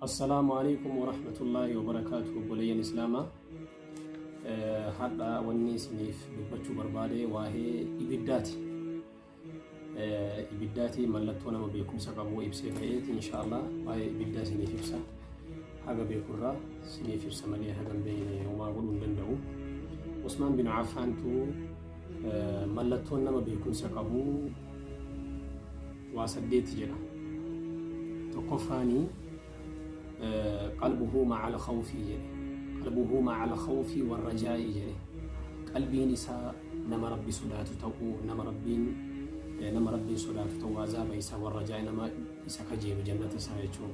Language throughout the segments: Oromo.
Assalaamu alaikum warahmatullaahi wabarakaatu obboleeyyan islaamaa hadha wanni isiniif dubbachuu barbaade waa'ee ibiddaati ibiddaati mallattoo nama beekumsa qabu ibsee ka'eeti inshaallah waa'ee ibiddaa isiniif ibsa haga beekurraa isiniif ibsa malee haga hin beekne homaa godhuu hin danda'u Usmaan bin Affaantu mallattoon nama beekumsa qabu waa saddeeti jira. Tokkoffaani qalbuhu ma'al khawfi jedhe. Qalbuhu ma'al khawfi warrajaa'i jedhe. Qalbiin isaa nama Rabbi sodaatu ta'uu, nama Rabbiin nama Rabbiin sodaatu ta'uu, azaaba isaa warrajaa'i nama isa kajeelu jannata isaa jechuudha.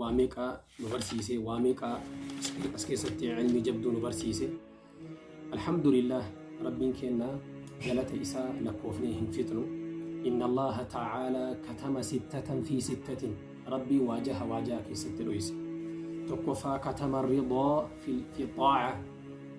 waa meeqa nu barsiise waa meeqa as keessatti ilmii jabduu nu barsiise alhamdulillah rabbiin keenna galata isaa lakkoofnee hin fixnu inna allaha ta'aalaa katama sittatan fi sittatin rabbii waajaha waajaa keessatti dhoyse tokkoffaa katama ridaa fi xaaca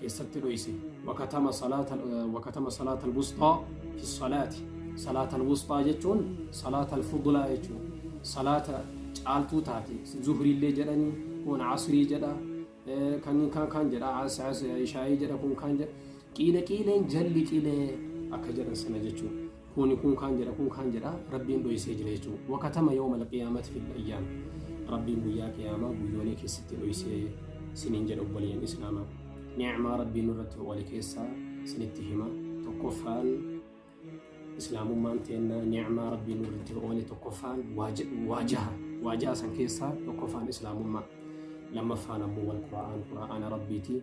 keessatti dhoyse wakatama salaata wakatama salaata alwusxaa fi salaati salaata alwusxaa jechuun salaata alfudlaa jechuun salaata caaltuu taate zuhriillee jedhanii kun asrii jedha eh, kan kan kan jedha as- as- ishaa'ii jedha kun kan jedha qiile qiileen jalli qilee akka jedhan sana jechuudha. kuuni kun kaan jedha kun kaan jedha rabbiin dhoysee jira jechuu wakatama yawma alqiyaamati fil ayyaam rabbiin guyyaa qiyaamaa guyyoonii keessatti dhoysee siniin jedha obboleeyyan islaama ni'maa rabbiin irratti oole keessaa sinitti hima tokkoffaan islaamummaan teennaa ni'maa rabbiin irratti oole tokkoffaan waajaha waajaha san keessaa tokkoffaan islaamummaa lammaffaan ammoo wal qura'aan qura'aana rabbiiti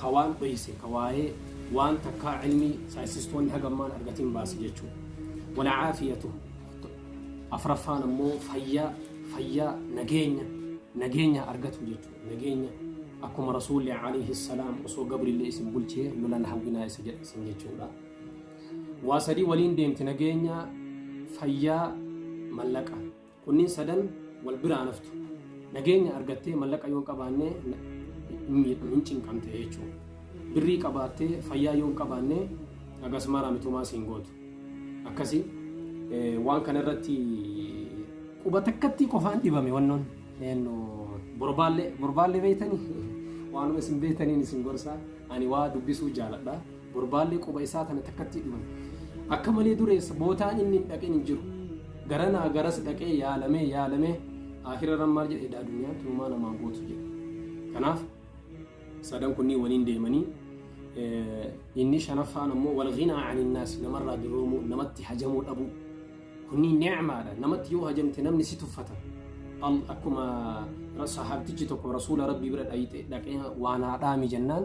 ka waan dhoyse ka waayee waan takkaa cilmii saayinsistoonni haga ammaan argatiin baase jechuu walcaafiyatu afraffaan ammoo fayyaa fayyaa nageenya nageenya argatu jechuu nageenya akkuma rasuulli alayhi salaam osoo gabrillee isin bulchee lolan hawwinaa isa jedhe isin jechuudha waa sadii waliin deemti nageenya fayyaa mallaqa Kunniin sadan wal bira hin haftu. Nageenya argattee mallaqa yoo hin qabaanne hin miidhamte, hin cinqamte jechuudha. Birrii qabaattee fayyaa yoo hin qabaanne hagas maraa mitumaa siin gootu. Akkasi waan kana irratti quba takkattii qofaan dhibame wannoon borbaallee borbaallee beektanii waanuma isin beektaniin isin gorsaa ani waa dubbisuu jaaladha. Gurbaallee quba isaa tana takkatti hin dhiman. Akka malee dureessa bootaa inni hin dhaqin hin jiru. Garanaa garas dhaqee yaalamee yaalamee aakirarran maal jedhe edaa dunyaan tunumaa namaan gootu jedhe. Kanaaf sadan kunniin waliin deemanii inni shanaffaan ammoo wal ghinaa aninnaas namarraa duroomuu namatti hajamuu dhabuu. Kunniin ni'maadha namatti yoo hajamte namni si tuffata. Akkuma sahaabtichi tokko rasuula rabbii bira dhaqee waan haadhaami jennaan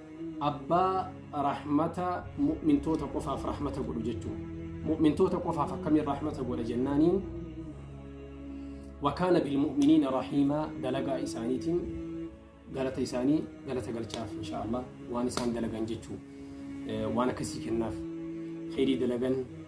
abbaa rahmata mu'mintoota qofaaf rahmata godhu jechuun mu'mintoota qofaaf akkamiin rahmata godha jennaaniin wakaana bilmu'miniina rahiimaa dalagaa isaaniitiin galata isaanii galata galchaaf insha Allah waan isaan dalagan jechuu waan akkasii kennaaf kheyrii dalagan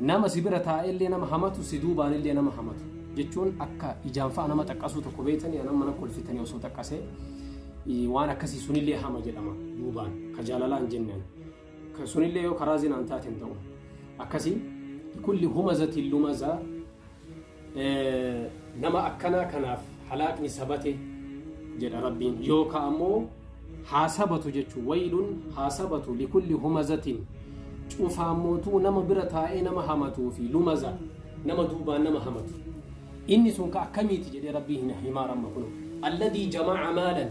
nama si bira taa'ellee nama hamatu si duubaanillee nama hamatu jechuun akka ijaan fa'a nama xaqqasuu tokko beektanii anam mana kolfitanii osoo xaqqasee waan akkasii sunillee hama jedhama duubaan ka jaalalaan jennaan ka sunillee yoo karaa zinaan taateen ta'u akkasii kulli humazatiin lumazaa Nama akkanaa kanaaf halaakni sabate jedha Rabbiin yookaan ammoo haa sabatu jechuun wayiluun haa sabatu likulli humazatiin cufaan mootuu nama bira taa'ee nama hamatuu fi lumaza nama duubaan nama hamatu. Inni sun ka akkamiiti jedhee Rabbii hin himaa ramma kun. Alladii jama'a maalan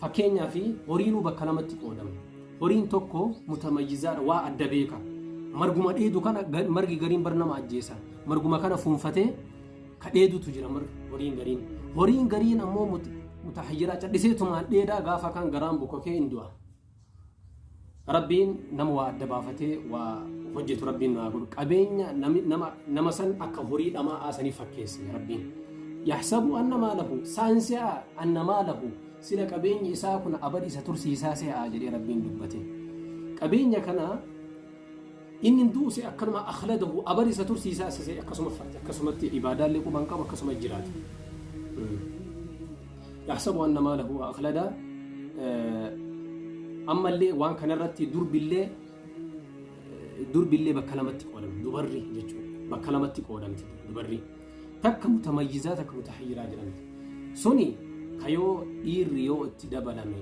Fakkeenyaaf horiinuu bakka lamatti qoodama. Horiin tokko mutamayyizaadha waa adda beeka. Marguma dheedu kana margi gariin bar nama ajjeesa. Marguma kana fuunfatee ka dheedutu jira horiin gariin. Horiin gariin ammoo mutahayyiraa cadhiseetumaan dheedaa gaafa kan garaan bukokee hin du'a. Rabbiin nama waa adda baafatee waa hojjetu rabbiin nu haa godhu. Qabeenya nami- nama nama san akka horii dhama'aa sanii fakkeesse rabbiin. Yaxsabu anna maalahu saan se'a anna maalahu sila qabeenyi isaa kun abadi isa tursiisaa se'a jedhee rabbiin dubbate. Qabeenya kana Inni hin du'u se'e akkanuma akhladahu abar isa tursiisa isa se'e akkasuma fayya akkasumatti ibaadaallee quban qabu akkasuma jiraata. Yahsabu anna maalahu wa akhlada ammallee waan kanarratti durbillee durbillee bakka lamatti qoodamti dubarri jechuudha bakka lamatti qoodamti dubarri. Takka mutamayyizaa takka mutahayyiraa jedhamti. Suni ka yoo dhiirri yoo itti dabalame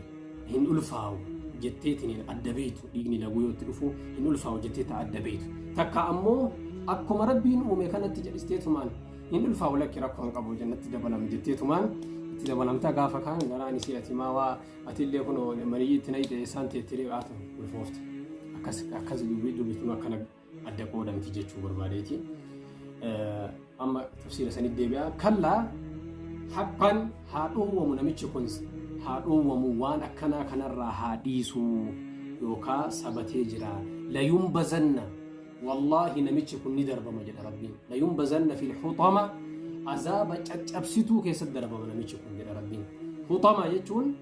hin ulfaawu jetteetiin adda beeytu dhiigni laguu yoo itti dhufu hin ulfaawu jettee ta adda beeytu. Takka ammoo akkuma rabbiin uume kanatti jedhisteetumaan hin ulfaawu lakki rakkoo hin qabu jennatti dabalame jetteetumaan itti dabalamtaa gaafa kaan garaan isii ati maa waa ati illee kun maniyyi itti nayite isaan teettee dhiqaatu ulfoofte. Akkas akkas dubbii dubbifnu akkana adda qooda miti jechuu barbaadeeti. Amma tafsiira sanitti deebi'a. Kallaa haqqaan haa dhoowwamu namichi kun haa dhoowwamu waan akkanaa kanarraa haa dhiisuu yookaa sabatee jira. Layuun bazanna wallaahi namichi kun ni darbama jedha rabbiin. Layuun bazanna fi huxama azaaba caccabsituu keessatti darbama namichi kun jedha rabbiin. Huxama jechuun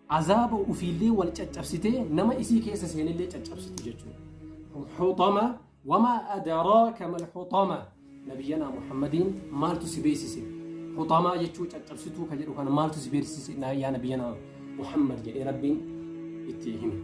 Azaaba ufiillee wal caccabsitee nama isii keessa seenillee caccabsiti jechuudha. Huxama wamaa adaraaka mal huxama nabiyyanaa Muhammadiin maaltu si beeksise? Huxamaa jechuu caccabsituu ka jedhu kana maaltu si beeksise yaa nabiyyanaa Muhammad jedhee rabbiin itti hime.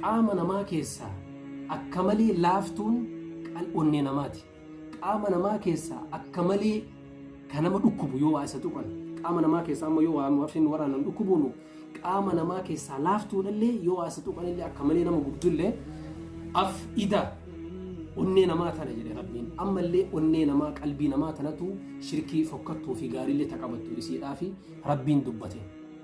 Qaama namaa keessaa akka malee laaftuun onnee namaati. Qaama namaa keessaa akka malee kan nama dhukkubu yoo waa isa tuqan qaama namaa keessaa amma yoo waa warreen waraanan dhukkubuunu qaama namaa keessaa laaftuudhallee yoo waa isa tuqanillee akka malee nama gubdullee af ida onnee namaa tana jedhe rabbiin ammallee onnee namaa qalbii namaa tanatu shirkii fokkattuu fi gaariillee taqabattu isiidhaa fi rabbiin dubbate.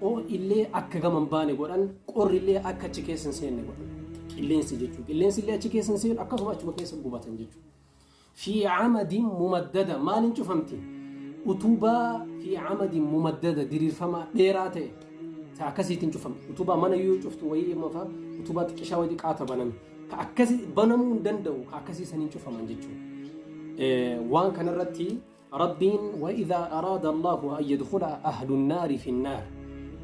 Hoo'i illee akka gama hin baane godhan, qorri illee akka achi keessa hin seenne godhan. Qilleensi jechuudha. Qilleensi illee achi keessa hin seenu akkasuma achuma keessa gubatan jechuudha. Fi camadin mumaddada maaliin cufamti? Utubaa fi camadin mumaddada diriirfamaa dheeraa ta'e ta akkasiitiin cufamti. Utubaa mana yoo cuftu wayii immoo fa'a utubaa xiqqishaa wayii xiqqaata baname. Ka akkasii banamuu hin danda'u ka akkasii saniin cufaman jechuudha. Eh, Waan kanarratti Rabbiin wa'idhaa araada Allaahu an yadkhula ahlun naari fin naar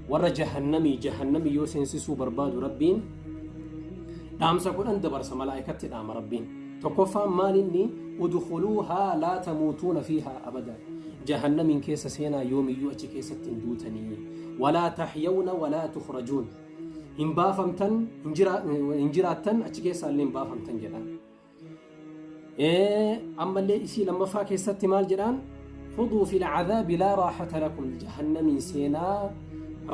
warra jahannamii jahannamii yoo seensisuu barbaadu Rabbiin dhaamsa kudhan dabarsa malaa'ikatti dhaama Rabbiin tokkoffaan maal inni udkhuluuhaa laa tamuutuuna fiihaa abada jahannamiin keessa seenaa yoomiyyuu achi keessatti hin duutanii walaa tahyawna walaa tukhrajuun hin baafamtan hin jiraattan achi keessaa illee hin baafamtan jedhan ammallee isii lammaffaa keessatti maal jedhaan fuduu fil cadaabi laa raaxata lakum jahannamiin seenaa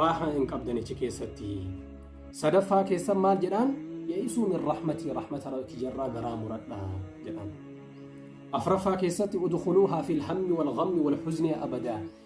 raaxaa hin qabdan achi keessatti sadaffaa keessan maal jedhaan ya'isuu min rahmatii rahmata rabbi jarraa garaa muradha jedhaan afraffaa keessatti udkhuluuhaa fil hammi wal ghammi wal huzni abadaa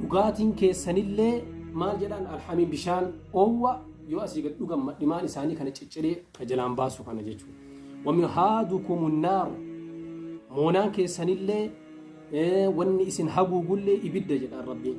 Dhugaatiin keessanillee maal jedhaan alhamiin bishaan oowwa yoo asii gad dhugan madhimaan isaanii kana cicciree ka jalaan baasu kana jechuudha. Wamihaadukumu naaru moonaan keessanillee wanni isin haguugullee ibidda jedhaan rabbiin.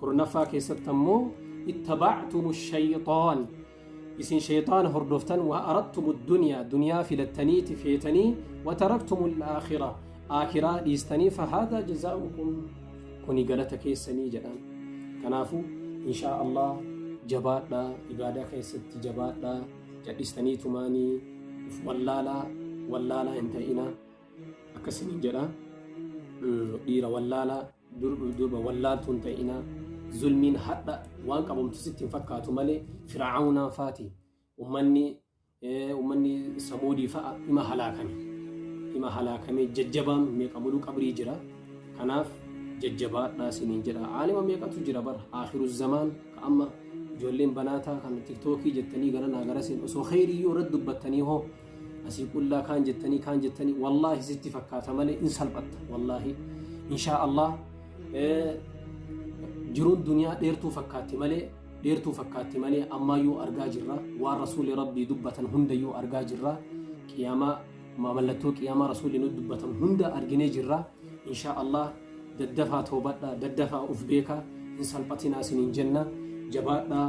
kurnaffaa keessatti ammoo ittabactumu shayxaan isin shayxaana hordoftan wa arattumu duniyaa duniyaa filattaniiti feetanii wa taraktumu alaakhira aakhiraa dhiistanii fahaadaa jazaa'ukum kuni galata keessanii jedhan kanaafuu inshaa allah jabaadha ibaadaa keessatti jabaadha jadhistanii tumaanii uf wallaalaa wallaalaa hin ta'ina akkasiniin jedha dhiira wallaalaa durbuuf durba wallaaltuun ta'inaa zulmiin hadha waan qabamtu sitti hin fakkaatu malee firaa'aunaa faati ummanni ummanni samuudii fa'a ima halaakame ima halaakamee jajjabaan meeqa muluu qabrii jira kanaaf jajjabaadhaa siniin jedha aalima meeqatu jira bara aakhiru zamaan ka amma ijoolleen banaataa kan tiktookii jettanii gara naa garasiin osoo kheyrii yoo irratti dubbattanii hoo asii qullaa kaan jettanii kaan jettanii wallaahi sitti fakkaata malee in salphatta wallaahi inshaa allah jiruun duniyaa dheertuu fakkaatti malee dheertuu fakkaatti malee ammaayyuu argaa jirra waan rasuuli rabbii dubbatan hundayyuu argaa jirra qiyaamaa mallattoo qiyaamaa rasuuli nu dubbatan hunda arginee jirra inshaa allah daddafaa toobadha daddafaa uf beekaa hin salphatinaa isiniin jenna jabaadhaa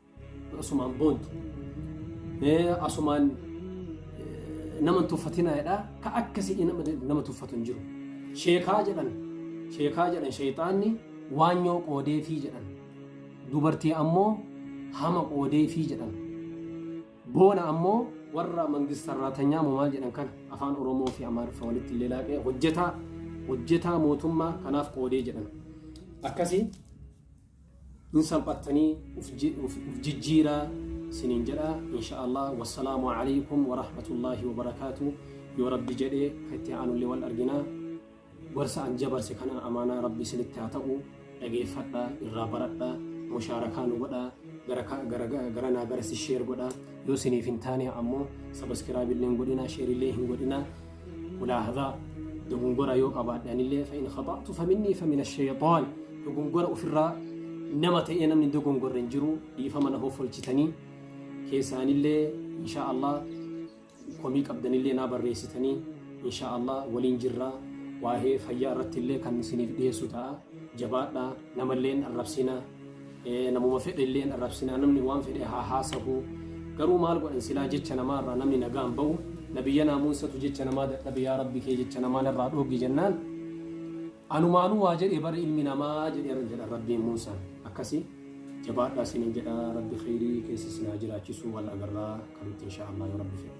Asumaan boontu. Asumaan nama tuffatinaa jedha. Ka akkasii nama tuffatu hin jiru. Sheekaa jedhan. Sheekaa jedhan sheexaanni waanyoo qoodeefii jedhan. Dubartii ammoo hama qoodeefii jedhan. Boona ammoo warra mangistarraatanyaa moo maal jedhan kana afaan Oromoo fi Amaariffa walitti illee laaqee hojjetaa hojjetaa mootummaa kanaaf qoodee jedhan. Akkasii hin salphattanii uf ji- uf- uf jijjiiraa siniin jedha insha allah wassalaamu alaykum warahmatullaahi wabarakaatu yoo rabbi jedhe ka itti aanullee wal arginaa gorsa an jabarse kana amaanaa rabbi isinitti haa ta'u dhageeffadha irraa baradha mushaarakaa nu godha gara ka- gara- gara- gara naa garasi sheer godha yoo isiniif hin taane ammoo sabaskiraabillee hin godhina sheerillee hin godhina mulaahazaa dogongora yoo qabaadhe anillee fa in khaxa'tu fa minnii fa min ashayxaan dogongora ofirraa nama ta'ee namni dogongorre hin jiru dhiifama na hoffolchitanii keessaanillee insha Allah komii qabdanillee naa barreessitanii insha Allah waliin jirraa waa'ee fayyaa irrattillee kan isiniif dhiyeessu ta'a jabaadhaa namalleen arrabsinaa Namuma fedhe illee hin arrabsinaa namni waan fedhe haa haasahu garuu maal godhan silaa jecha namaa irraa namni nagaan ba'u nabiyya naamuunsatu jecha namaa dadhabe yaa rabbi kee jecha namaa narraa dhooggi jennaan anumaanuu waa jedhe bara ilmi namaa jedheera jedha rabbiin muusaan akkasii jabaadhaa sinin jedha rabbi kheyrii keessa sinaa jiraachisuu wal agarraa kanutti inshaa allah yoo rabbi fedhe